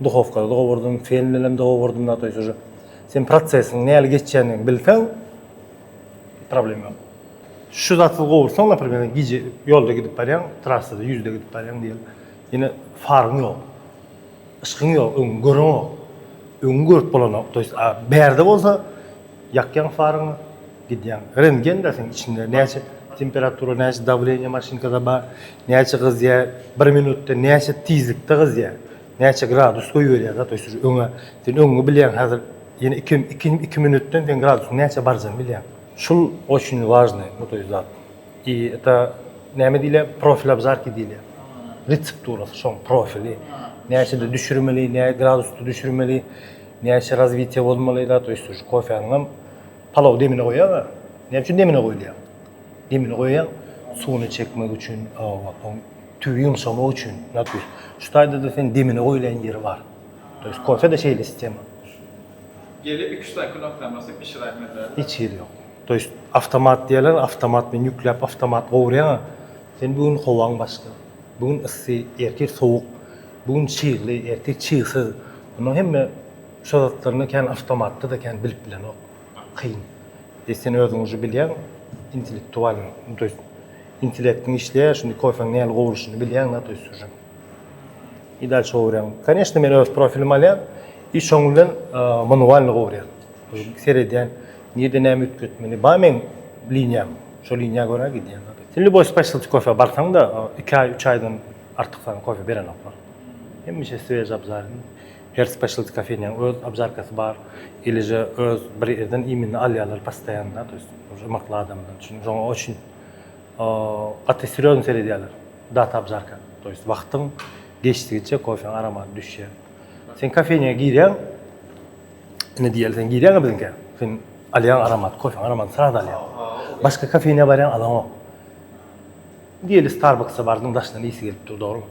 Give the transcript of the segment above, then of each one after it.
Duhowkada dogurdyň, sen bilen dogurdyň da toýs uje. Sen protsesiň näli geçýändigini bilseň problem ýok. Şu zaty gowurtsaň naprimer gije ýolda gidip barýaň, trassada ýüzde gidip barýaň diýeli. Ýene faryň ýok. Yşkyň ýok, öňüňi göreňok. Öňüňi görüp bolanok. Toýs a bärde bolsa ýakýaň faryňy, gidýäň. Rentgen bar seň içinde näçe temperatura näçe dawleniýa maşynkada bar näçe gyzýa bir minutda näçe tizlikde gyzýa näçe gradus goýberýä zat öýsüz öňe sen öňňi bilýäň häzir ýene iki iki iki minutdan seň gradusyň näçe barjagyny bilýäň. Şul oçin wažnyý bu toý zat i eta näme diýilýä profil abzarki diýilýä retsepturasy şoň profili näçede düşürmeli nä gradusda düşürmeli näçe razwitiýa bolmaly zat öýsüz kofäniňem Palaw demine goýaga. Näme üçin demine goýulýar? Demine goýaýaň suwuny çekmek üçin, oň tüwi ýumşamak üçin. Nätüs. Şu taýda-da sen demine goýulan ýeri bar. To ýest kofede şeýle sistema. Gelip iki-üç sany knopkany basyp bişiräýip meselem. Hiç hili ýok. To ýest awtomat diýerler, awtomat bilen ýükläp awtomat gowurýaňa. Sen bu gün howaň başga. Bu gün yssy, ertir sowuk. Bu gün çygly, ertir çygsyz. Munuň hemme. Şo zatlaryny kän awtomatda-da kän bilip bilenok. Kyn. E sen özüň uje bilýäň, intellektualyň, nu to ýest, intellektiň işleýär, şindi kofeň nähili gowrulyşyny bilýäň-da, to ýest uje. I dal çowurýaň. Koneşno men öz profilimi alýan i şoň bilen manualny gowurýan. Seredýän, nirde näme üýtgetmeli. Bar meň liniýam. Şo liniýa görä gidýän. Sen lýuboý specialty kofä barsaň-da, iki aý, üç aýdan artykdan kofe berenoklar. Hemişe swej abzalny. Her specialty kofeniýaň öz obžarkasy bar, ilije öz bir ýerden iýmini alýarlar postoýanna, to ýest uje ymyrtly adamdan üçin, şoňa oçin gaty serýozny seredýärler, data obžarka, to ýest wagtyň geçdigiçe kofeň aromady düşýär. Sen kofeniýa girýäň, ine diýeli sen girýäň-ä biziňkä, sen alýaň aromat, kofeň aromadyny sraz alýaň. Başga kofeniýa barýaň, alaňok. Diýeli Starbucks-a bardyň, daşyndan ysy gelip dur, dogrumy?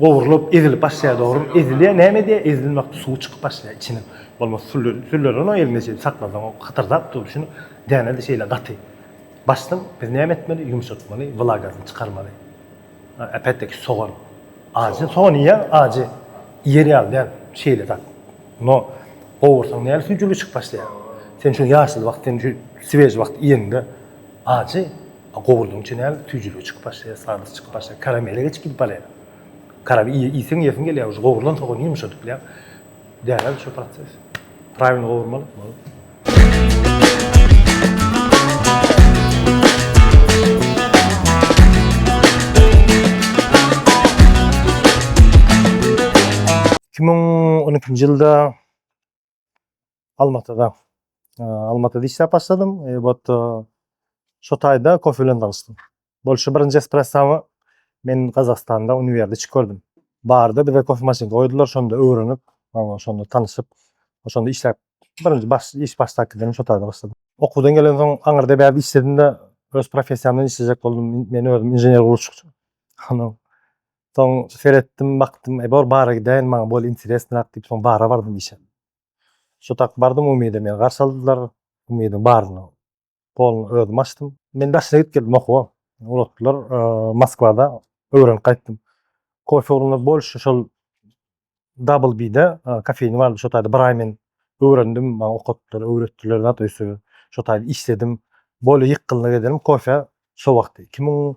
gowrulyp ezilip başlaýar dogrymy ezilýär näme edýär ezildiň wagty suwy çykyp başlaýar içiniň bolmasa süller süller onuň eliňde şeýdip saklasaň o hytyrdap dur şuny dänede şeýle gaty başdan biz näme etmeli ýumşatmaly wlagasyny çykarmaly äpetdeki sogan ajy sogan iýýäň ajy iýer ýaly däl şeýle zat no gowursaň näl süýjüligi çykyp başlaýar sen şu ýaşyl wagt sen şu swez wagt iýende ajy Gowurdyň içine süýjüligi çykyp başlaýar, sladosty çykyp başlaýar. Karamele geçip gidip barýar. Karam iýseň iýesiň gelýär uje. Gowurdan soň ony ýumşadyp bilýäň. Dälä şu proses. Prawilny gowurmaly. Bolup. Iki müň on ikinji ýylda Almatyda. Almatyda işläp başladym. Ebat şo taýda kofe bilen tanyşdym. Bolşy birinji espressamy men Gazagystanda uniwerde içip gördüm. Barda bize kofe maşyn goýdular, şonda öwrenip, şonda tanyşyp, şonda işläp, birinji baş iş başdakydan şo taýda başladym. Okuwdan gelen soň aňyrda bärde işledim-de, öz professiýamdan işlejek boldum. Men özüm inžener gurluşykçy. Ondan Soň seretdim, bakdym, e bor bara gidäýin, maňa bol interesnyrak diýip, soň bara bardym işe. Şu tak bardym Umyda meni garşy aldylar. Umydyň baryna poluny özüm açdym. Men daşyna gidip geldim okuwa. Ulatdylar Moskwada öwrenip gaýtdym. Kofe ugrunda bolşy şol Double B-de kofeýni bardy. Şo taýda bir aý men öwrendim, maňa okatdylar, öwretdiler zat öýse şo taýda işledim. Bol ýykgynlyk ederim kofe şo wagty iki müň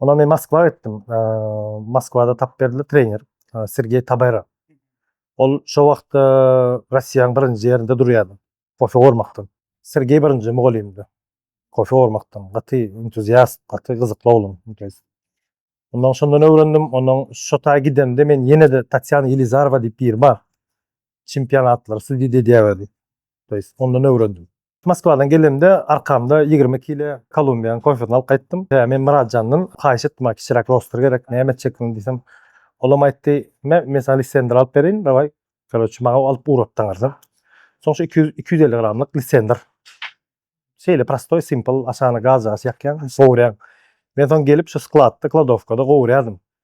Ondan men Moskwa gitdim. Moskwada tap berdi trener Sergey Tabera. Ol şo wagtda Russiýanyň birinji ýerinde durýardy. Kofe gormakdan. Sergey birinji mugallymdy. Kofe gormakdan. Gaty entuziast, gaty gyzykly oglan. Ondan şondan öwrendim. Ondan şo taý gidemde men ýene-de Tatýana Ýelizarowa diýip biri bar. Çempionatlary sudýa edýärdi. Ondan öwrendim. Moskwadan gelenimde arkamda ýigrimi kile kolumbiýan kofesini alyp gaýtdym. Hä, men Myratjandan haýyş etdim, maňa kiçiräk roster gerek, näme etjekdigiňi diýsem, olam aýtdy, Mä, men saňa lissendr alyp bereýin, dawaý, koroçi, maňa alyp ugratdy aňyrdan. Soň şu iki ýüz, iki ýüz elli gramlyk lissendr. Şeýle prostoý, simpl, aşagyna gazjagaç ýakýaň, gowurýaň. Men soň gelip şu skladda, kladowkada gowurýardym.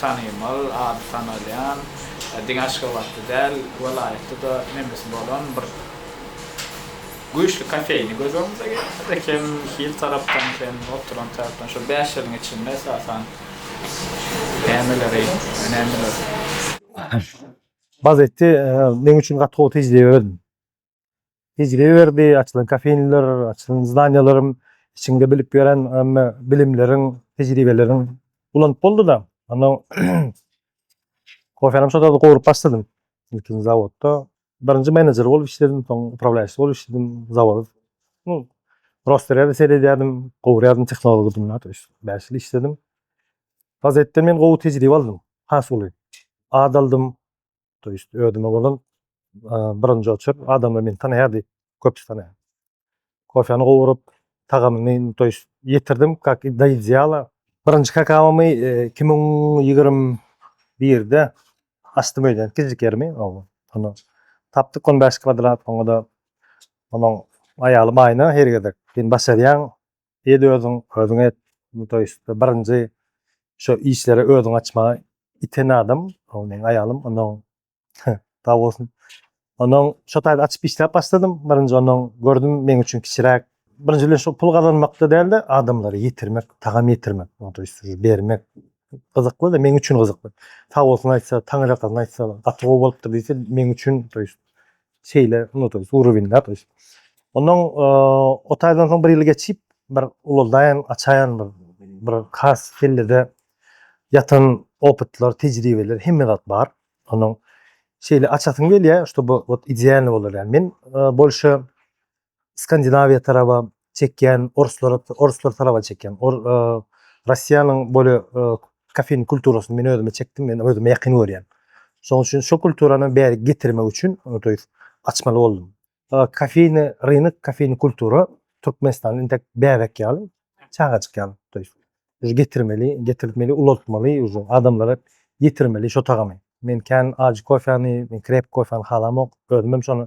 tanymal, ady tanalýan, diňe Aşgabatda däl, welaýatda-da memesi bolan bir güýçli kofeýni göz öňümize getirdik. Hem hil tarapdan, hem oturan tarapdan. Şol bäş ýylyň içinde esasan nämeleri önemli görüň? Bazeti meň üçin gaty gowy tejribe. tejribe berdi, açylan kofeinler, açylan zdaniýalaryň içinde bilip gelen ämme bilimleriň, tejribeleriň ulanyp boldy-da. Onda kofenem şo zady gowrup başladym. Ilkinji zawodda birinji menejer bolup işledim, soň uprawlaýşy bolup işledim zawod. Bu Rosterýa-da seredýärdim, gowurýardym tehnologdymda, to ýest bäş ýyl işledim. Gazetden men gowy tejribe aldym, has uly. Ad aldym. to ýest özüme bolan birinji oçur adamlar meni tanaýar diýip köpüsi tanaýar. Kofäni gowurup, tagamyny to ýest ýetirdim, kak do ideala. Birinji kakawamy iki müň ýigrimi birde açdym öýden, kiçijik ýerimi, ony tapdyk on bäş kwadrat, oňa-da onuň aýalym Aýna her gezek sen başarýaň, Ed özüň, özüň et. Bu toý üstde birinji şu işleri özüň açmaga iten adam, ol meň aýalym. Ondan sag bolsun. Ondan şu taýda açyp işläp başladym. Birinji ondan gördüm, meň üçin kiçiräk. Birinji bilen şu pul gazanmakda dälde, adamlara ýetirmek, tagam ýetirmek, bu toý üstde bermek gyzykly-da, meň üçin gyzykly. Sag bolsun aýtsa, taňyrýakasyna aýtsa, gaty gowy bolupdyr diýse, meň üçin toý üstde şeýle unudyp, suw rubinläp öýdüp. Ondan o taýdan soň bir ýyl geçip, bir ulaldaýan, açaýan bir bir has kellede ýatan opytlar, tejribeler, hemme zat bar. Onuň şeýle açasym gelýär, şo bu idealny bolar ýaly. Men bolşy Skandinawiýa taraba çekýän orslara orslar taraba çekýän or Russiýanyň bolýa kafeýn kulturasyny men özüme çekdim men özüme ýakyn görýän. Şoň üçin şo kulturany bäri getirmek üçin to ýest açmaly boldum. Kafeýny rynok kafeýny kultura Türkmenistanda intek bäbek ýaly çagajyk ýaly to ýest uje getirmeli getirtmeli ulaltmaly uje adamlara ýetirmeli şo tagamy. Men kän ajy kofäni men krepki kofäni halamok özümem şony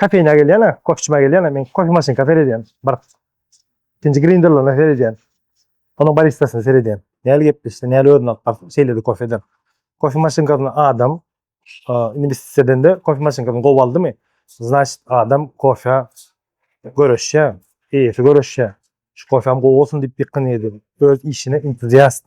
Kofeýna gelýän-ä, kofe içmä gelýän-ä, men kofe maşynka seredýän, baryp. Ikinji grinderlaryna seredýän. Onuň baristasyna seredýän. Näl gepleşdi, näl özüni alyp bardy, şeýledi kofe eden. Kofe maşynkasyna adam, indi biz size edende kofe maşynkasyny gowy aldymy, znaçit, adam kofä göreşýär, eýesi göreşýär. Şu kofäm gowy bolsun diýip ýykgyn ýedi. Öz işine entuziast.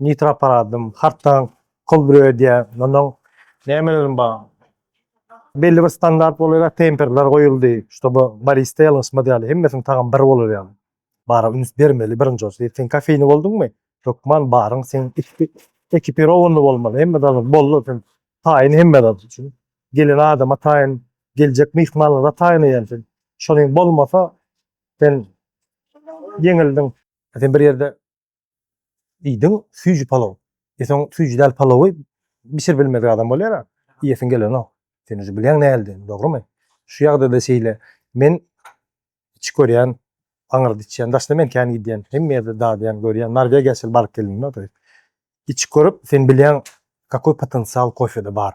nitro aparadym, hartdan kol bürep edýär. Mundan nämeleriň bar? Belli bir standart bolar ýaly temperler goýuldy, şoba barista ýalňyşmaz ýaly, hemmesiniň tagamy bir bolar ýaly. Bara üns bermeli birinji bolsa. Ýeri sen kofeýni bolduňmy, hökman baryň seň ekipirowanyny bolmaly. Hemme zat boldy sen taýyn hemme zat üçin. Gelen adama taýyn, geljek myhmanlara taýyn eýän sen. Şonuň bolmasa sen ýeňildiň. Sen bir ýerde Iýdiň süýji palaw. E soň süýji däl palawy bişirip bilmedik adam bolýar-a. Iýesiň gelenok. Sen uje bilýäň näldin, dogrymy? Şu ýagdaýda şeýle. Men içip görýän, aňyrda içýän, daşda men kän gidýän, hemme ýerde dadýan, görýän. Norwegiýa şeýle baryp geldim-de oturyp. Içip görüp, sen bilýäň, kakoý potensial kofede bar.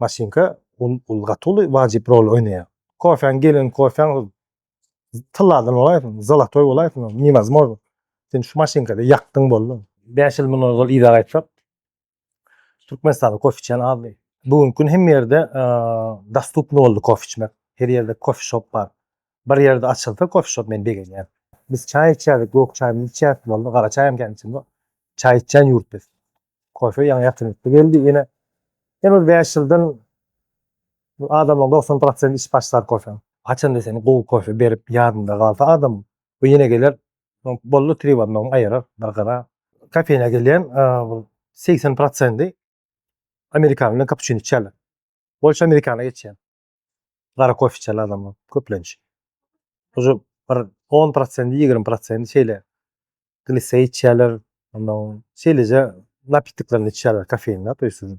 maşynka ol ol gaty uly wajyp rol oýnaýar. Kofäň gelen kofäň tylladan bolaýsyn, zolotoý bolaýsyn, niwazmor. Sen şu maşynkada ýakdyň boldy. Bäş ýyl mundan ozal yza gaýtsak, Türkmenistanda kofe içýän azdy. Bu günki gün hemme ýerde dostupny boldy kofe içmek. Her ýerde kofe şop bar. Bir ýerde açylsa kofe şop men begenýän. Biz çaý içýärdik, gök çaýymyzy içýärdik boldy, gara çaýam kän içemok. Çaý içýän ýurt biz. Kofe ýaňy ýatyrykly geldi ýene. Ýene bir bäş ýyldan adamyň dogsan prosenti içip başlar kofe. Haçanda sen gowy kofe berip ýadynda galsa adam we ýene geler. Boldy tri barmagyny aýyrar bir gyra. Kofeýna gelýän segsen prosenti amerikano bilen kapuçino içýärler. Bolşy amerikana geçýär. gara kofe içen adamlar köplenç. Uje bir 10 prosenti, 20 prosenti şeýle glise içýärler, ondan şeýleje napitklerini içýärler kofeinli, to ýest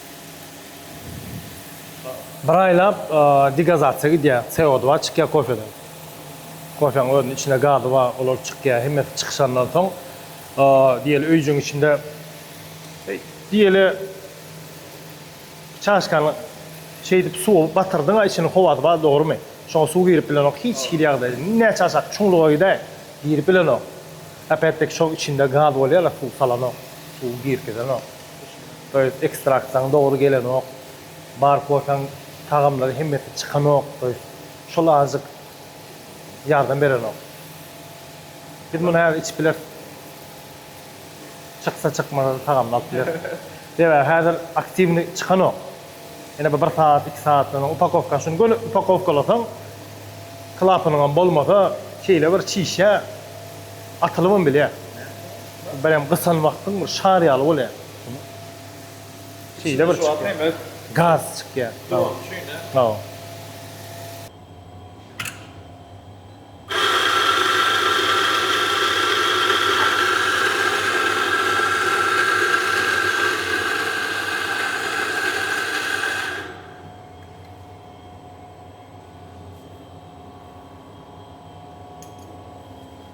Bir aýlap degazatsiýa gidýär, CO2 çykýar kofeden. Kofäň özüniň içinde gazy bar, olar çykýar. Hemmesi çykyşandan soň diýeli öýjügiň içinde diýeli çaşkany şeýdip suwa batyrdyň-a içini howasy bar dogrymy? Şoňa suw girip bilenok hiç hili ýagdaýda. Näçe aşak çuňluga gidaý girip bilenok. Äpetdeki şoň içinde gaz bolýar-la suw salanok, suw girgizenok. Toýust ekstraktyň dogry gelenok. Bar kofeň tagamlary hemmesi çykanok toýust. Şol azjyk ýardam berenok. Biz muny häzir içip bileris. Çyksa çykmasa tagamyny alyp bileris. Sebäbi häzir aktiwnyý çykanok. Ýene bir bir sagat, iki sagatdan soň upakowkany şuny göni upakowkalasaň klapanyňam bolmasa şeýle bir çişýär. Atylybam bilýär. Birem gysan wagtyň bir şar ýaly bolýar. Şeýle bir çykýar. Gaz çykýar. Hawa. Hawa.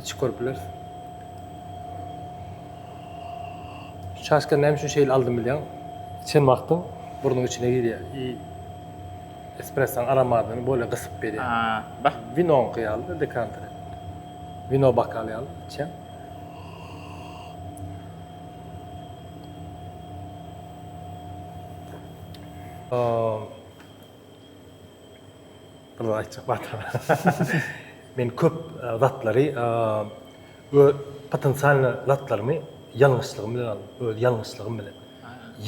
Hiç görüp bileris. Şaşka näme üçin şeýle aldym bilýän? Çen wagtyň burnuň içine girýär. I espressoň aromadyny bolýa gysyp berýär. Ha, bax. Winoňky ýaly dekanter. Wino bokaly ýaly çen. Bunu aýtjak wagtam. Men köp zatlary öz potensialny zatlarymy ýalňyşlygym bilen aldym, öz ýalňyşlygym bilen.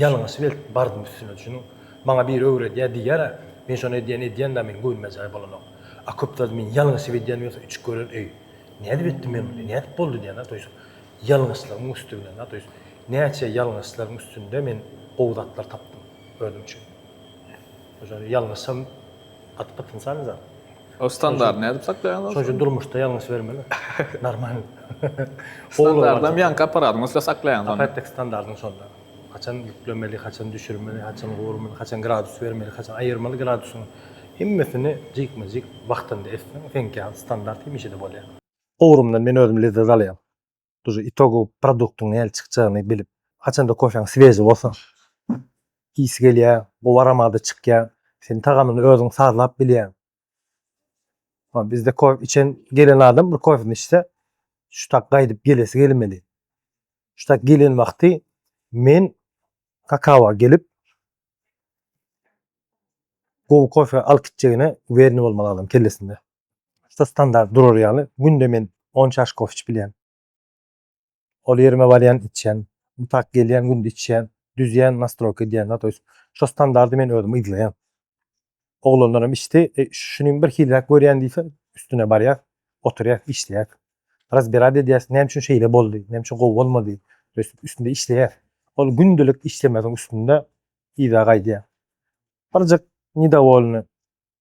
Ýalňyş belt bardym üstüne çünki maňa biri öwredýär diýýär, men şony edýän edýän da meniň göwnüme jaý bolanok. A köp zady men ýalňyşyp edýän ýogsa üç gören öý. Nädip etdim men muny? Nädip boldy diýýän to ýus. Ýalňyşlygyň üsti bilen da to ýus. Näçe ýalňyşlaryň üstünde men gowy zatlar tapdym özüm üçin. Şonda ýalňyşsam gaty potensialny zat. O standart nädip saklaýaňyz? Şonuň üçin durmuşda ýalňyş bermeli. Normal. Standartdan ýaňky apparatyň üstünde saklaýaňyz onda. Apparatdaky standartyň şonda. Haçan ýüklemeli, haçan düşürmeli, haçan gurmaly, haçan gradus bermeli, haçan aýyrmaly gradusyň hemmesini jikme-jik wagtynda etseň, seňki standart hemişe-de bolýar. Gurumdan men özüm lezzet alýan. Dujy itogowy produktyň nähili çykjagyny bilip, haçanda kofeň swezi bolsa, ysy gelýä, gowy aromady çykýa, sen tagamyny özüň sazlap bilýäň. Ha bizde kofe içen gelen adam bir kofesini içse, şu tak gaýdyp gelesi gelmeli. Şu tak gelen wagty men kakawa gelip gowy kofe alyp gitjegine uwereni bolmaly adam kellesinde. Şu standart durar ýaly, günde men on çaş kofe içibilýän. Ol ýerime barýan, içýän. Bu tak gelýän, günde içýän, düzýän, nastroýka edýän. To ýest, şo standardy men özüm yzlaýan. Oglanlar hem içdi. Şuny bir hiliräk görýän diýse, üstüne barýas, oturýas, işleýäs. Razberad edýäs, näme üçin şeýle boldy, näme üçin gowy bolmady. To ýest, üstünde işleýäs. Ol gündelik işlemesiň üstünde yza gaýdýar. Birjik nidowolny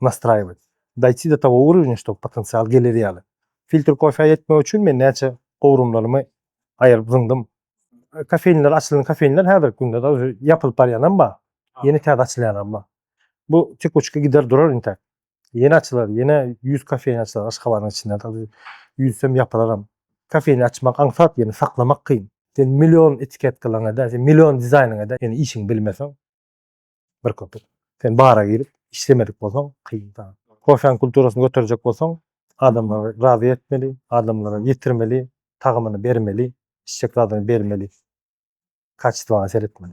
nastraýować, dojti do togo urowňa, ştob potensial gelir ýaly. Filtr kofä ýetmek üçin men näçe gowrumlarymy aýryp zyňdym. Kofeýnler açylan kofeýnler häzirki günde da özi ýapylyp barýanam bar, ýene täze açylýanam bar. Bu tekuçka gider durar intäk. Ýene açylar, ýene ýüz kofeýn açylar Aşgabadyň içinde de ýüzsem ýapylaram. Kofeýni açmak aňsat, ýöne saklamak kyn. Sen million etiketkalaryňa-da, sen million dizaýnyňa-da ýöne işiňi bilmeseň. bir köpük. Sen bara girip işlemedik bolsaň kyn saňa. Kofäň kulturasyny göterjek bolsaň adamlary razy etmeli, adamlara ýetirmeli, tagamyny bermeli, içjek zadyňy bermeli. Kaçestwaňa seretmeli.